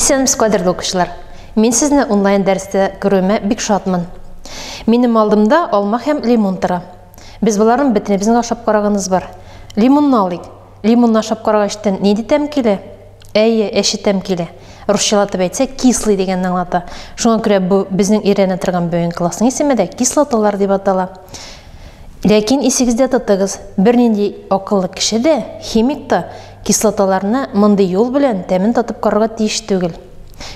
Исәнмесез, кадерле укучылар. Мин сезне онлайн дәрестә күрүемә бик шатмын. Минем алдымда алма һәм лимон тора. Без боларның бөтенебезне дә ашап караганыбыз бар. Лимонны алыйк. Лимонны ашап карагач, тен нинди тәм килә? Әйе, әче тәм килә. Русчалатып әйтсәк, кислый дигәнне аңлата. Шуңа күрә бу безнең өйрәнә торган бүгенге классның исеме дә кислоталар дип атала. Ләкин исегездә тотыгыз, бернинди акыллы кеше дә, химик та кислоталарны мондый юл белән тәмен татып карарга тиеш түгел.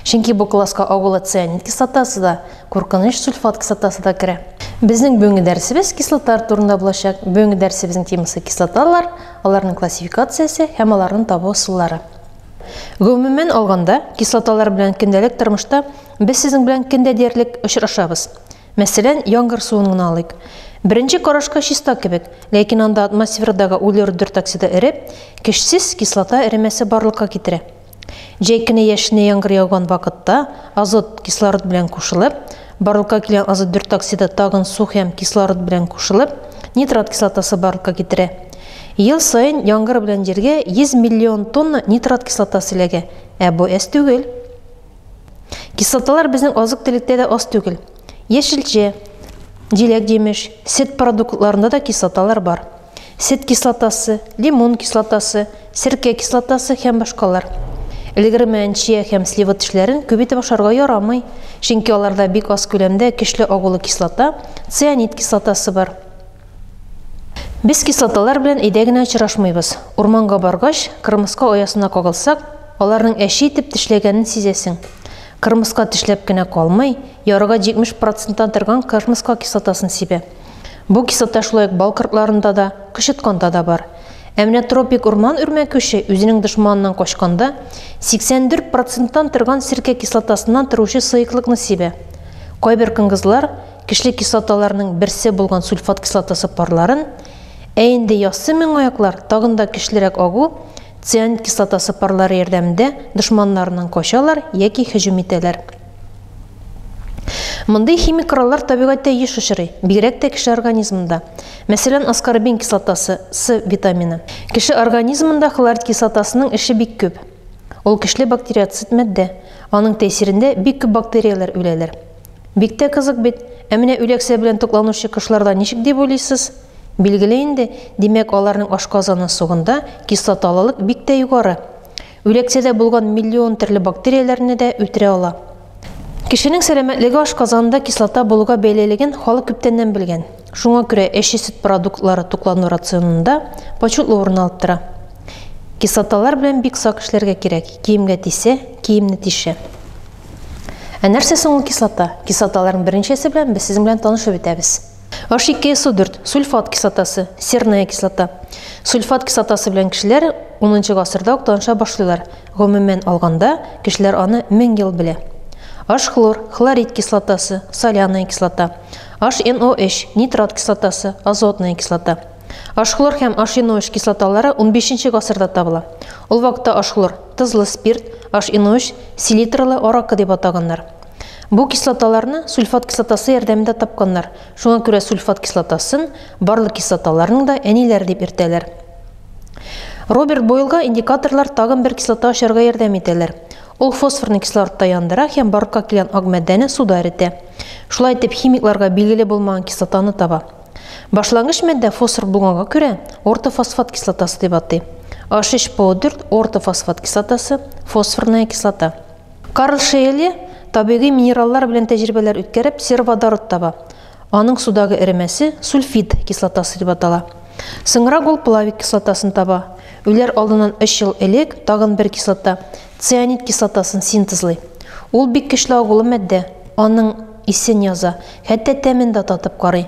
Чөнки бу класска агулы цианид кислотасы да, Куркыныч сульфат кислотасы да керә. Безнең бүгенге дәресебез кислоталар турында булачак. Бүгенге дәресебезнең темасы кислоталар, аларның классификациясе һәм аларны табу ысуллары. Гомумән алганда, кислоталар белән көндәлек тормышта без сезнең белән көн дә диярлек очрашабыз. Мәсәлән, яңгыр суын гына алыйк. Беренче карашка чиста кебек, ләкин анда атмосферадагы углерод бер токсида эреп, кешсез кислота эремәсе барлыкка китерә. Җәй көне яшенә яңгыр яуган вакытта азот кислород белән кушылып, барлыкка килгән азот дүрт оксиды тагын су һәм кислород белән кушылып, нитрат кислотасы барлыкка китерә. Ел саен яңгыр белән җиргә 100 миллион тонна нитрат кислотасы эләгә, ә бу әз түгел. Кислоталар безнең азык-төлектә дә аз түгел. Яшелчә, җиләк-җимеш, сөт продуктларында да кислоталар бар. сөт кислотасы, лимон кислотасы, серкә кислотасы һәм башкалар. Элегер мәнчия һәм слива тешләрен күп итеп ашарга ярамый, чөнки аларда бик аз күләмдә көчле агулы кислота, цианид кислотасы бар. Без кислоталар белән өйдә генә очрашмыйбыз. Урманга баргач, кырмыска оясына кагылсак, аларның әче итеп тешләгәнен сизәсең. Кырмыска тешләп кенә калмый, ярыга 70 проценттан торган кырмыска кислотасын сибә. Бу кислота шулай ук бал кортларында да, кычытканда да бар. Ә менә тропик урман үрмәкүше үзенең дошманыннан качканда 84 проценттан торган серкә кислотасыннан торучы сыеклыкны сибә. Кайбер конгызлар кишле кислоталарның берсе булган сульфат кислотасы парларын, ә инде яссы меңаяклар тагын да көчлерәк агу цианид кислотасы парлары ярдәмендә дошманнарыннан качалар яки һөҗүм итәләр. Мондый химик кораллар табигатьтә еш очрый, бигрәк тә кеше организмында. Мәсәлән, аскорбин кислотасы, С витамины. Кеше организмында хлорид кислотасының эше бик күп. Ул көчле бактериоцид матдә. Аның тәэсирендә бик күп бактерияләр үләләр. Бик тә кызык бит. Ә менә үләксә белән тукланучы кошларда ничек дип уйлыйсыз? Билгеле инде, димәк, аларның ашказаны сугында кислоталылык бик тә югары. Үләксәдә булган миллион төрле бактерияләрне дә үтерә ала. Кешенең сәламәтлеге ашказанында кислота булуга бәйлелеген халык күптәннән белгән. Шуңа күрә әче сөт продуктлары туклану рационында почетлы урын алып тора. Кислоталар белән бик сак эшләргә кирәк, киемгә тисә, киемне тишә. Ә нәрсә соң ул кислота? Кислоталарның берничәсе белән без сезнең белән танышып үтәбез. H2 SO4, сульфат кислотасы, серная кислота. Сульфат кислотасы белән кешеләр 10 гасырда ук таныша башлыйлар. Гомумән алганда, кешеләр аны 1000 ел белә. H-хлор, хлорид кислотасы, соляная кислота. HNOH, нитрат кислотасы, азотная кислота. H-хлор һәм HNOH кислоталары 15 гасырда табыла. Ул вакытта H-хлор, тозлы спирт, HNOH, селитрлы аракы дип атаганнар. Бу кислоталарны сульфат кислотасы ярдәмендә тапканнар. Шуңа күрә сульфат кислотасын барлык кислоталарның да әниләре дип йөртәләр. Роберт Бойлга индикаторлар тагын бер кислота ачарга ярдәм итәләр. Ул фосфорны кислородта яндыра һәм барлыкка килгән ак матдәне суда эретә. Шулай итеп, химикларга билгеле булмаган кислотаны таба. Башлангыч матдә фосфор булганга күрә, ортофосфат кислотасы дип атый. H3PO4 ортофосфат кислотасы, фосфорная кислота. Карл Шейле табигый минераллар белән тәҗрибәләр үткәреп сероводород таба. Аның судагы эремәсе сульфид кислотасы дип атала. Соңрак ул плавик кислотасын таба. Үләр алдыннан өч ел элек тагын бер кислота, цианид кислотасын синтезлый. Ул бик көчле агулы матдә, аның исен яза, хәтта тәмен дә татып карый.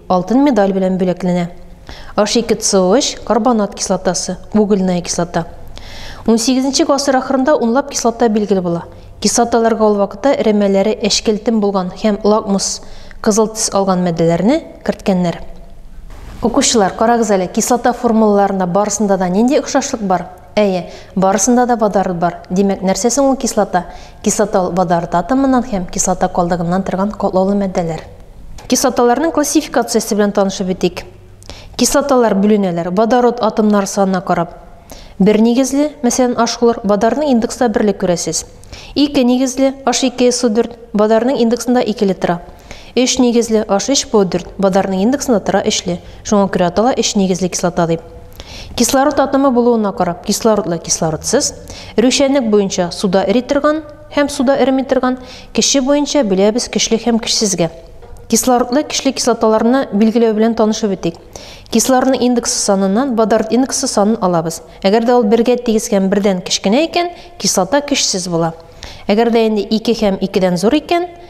Алтын медаль белән бүләкләнә. H2CO3, карбонат кислотасы, угольная кислота. Унсигезенче гасыр ахырында унлап кислота билгеле була. Кислоталарга ул вакытта эремәләре әчкелтем булган һәм лакмус, кызыл төс алган матдәләрне, керткәннәр. Укучылар, карагыз әле, кислота формулаларында барысында да нинди охшашлык бар? Әйе, барысында да водород бар. Димәк, нәрсә соң ул кислота? Кислоталы водород атомыннан һәм кислота калдыгыннан торган катлаулы матдәләр. Кислоталарның классификациясе белән танышып үтик. Кислоталар бүленәләр водород атомнары санына карап. Бер нигезле, мәсәлән, H-хлор, водорның индексында берле күрәсез. Ике нигезле, H2SO4, водорның индексында икеле тора. Өч нигезле HH бу дүрт бадарның индексында тора өчле, шуңа күрә атала өч нигезле кислота дип. Кислород атомы булуына карап, кислородлы, кислородсыз, эрүчәнлек буенча суда эри торган һәм суда эреми торган, кеше буенча бүләбез көчле һәм көчсезгә. Кислородлы, көчле кислоталарны билгеләү белән танышып үтик. Кислородның индексы саныннан бадард индексы санын алабыз. Әгәр дә ул бергә тигез һәм бердән кечкенә икән, кислота көчсез була. Әгәр дә инде ике һәм икедән зур икән,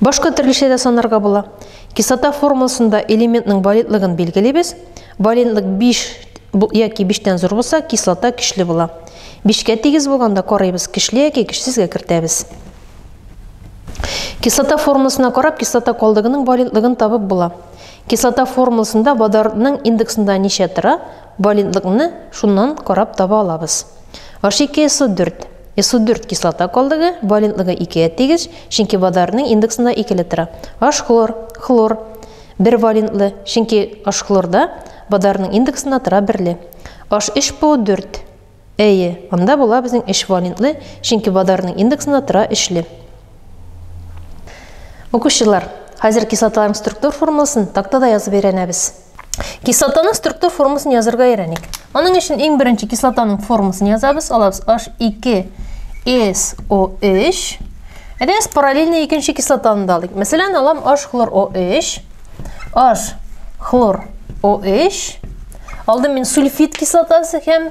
Башка төрлечә дә санарга була. Кислота формуласында элементның валентлыгын билгелибез. Валентлык 5 яки 5тән зур булса, кислота көчле була. 5кә тигез булганда карыйбыз, көчле яки көчсезгә кертәбез. Кислота формуласына карап, кислота калдыгының валентлыгын табып була. Кислота формуласында водородның индексында ничә тора, валентлыкны шуннан карап таба алабыз. H2SO4 Исодүрт кислота калдыгы валентлыгы икегә тигез, чөнки водородның индексында икеле тора. Ашхлор, хлор, бер валентлы, чөнки ашхлорда водородның индексында тора берле. HPO 4. Әйе, анда була безнең өч валентлы, чөнки водородның индексында тора өчле. Укучылар, хәзер кислоталарның структур формуласын тактада язып өйрәнәбез. Кислотаның структур формасын язырга өйрәник. Аның өчен иң беренче кислотаның формасын язабыз. Алабыз H2SO3. Әдәс параллельно икенче кислотаны да алыйк. Мәсәлән, алам H-хлор OH. H хлор OH. Алдым мин сульфид кислотасы һәм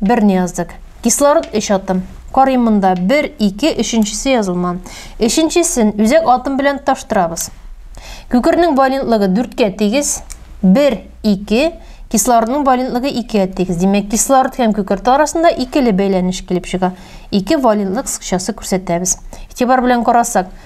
Берне яздык. Кислород өч атом. Карыйм монда. Бер, ике, өченчесе язылман. Өченчесен үзәк атом белән таштырабыз. Күкернең валентлыгы дүрткә тигез. Бер, ике. Кислородның валентлыгы икегә тигез. Димәк, кислород һәм күкерт арасында икеле бәйләнеш килеп чыга. Ике валентлык сыкчасы күрсәтәбез. Игътибар белән карасак,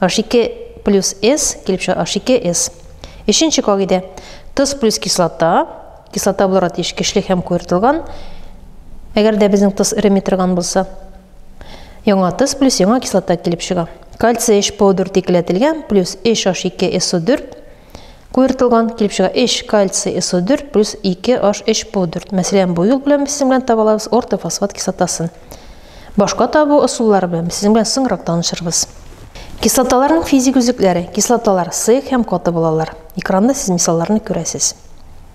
H2 плюс S килеп чыга H2S. Өченче кагыйдә. Тоз плюс кислота. Кислота буларак тиеш көчле һәм куертылган. Әгәр дә безнең тоз эреми торган булса, яңа тоз плюс яңа кислота килеп чыга. Кальций H-powder текеләтелгән плюс HH2SO4 Куертылган килеп чыга 3 кальций СО4 плюс 2 H3 PO4. Мәсәлән, бу юл белән без сезнең белән таба алабыз ортофосфат кислотасын. Башка табу ысуллары белән без сезнең белән соңрак танышырбыз. Кислоталарның физик үзлекләре. Кислоталар сыек һәм каты булалар. Экранда сез мисалларны күрәсез.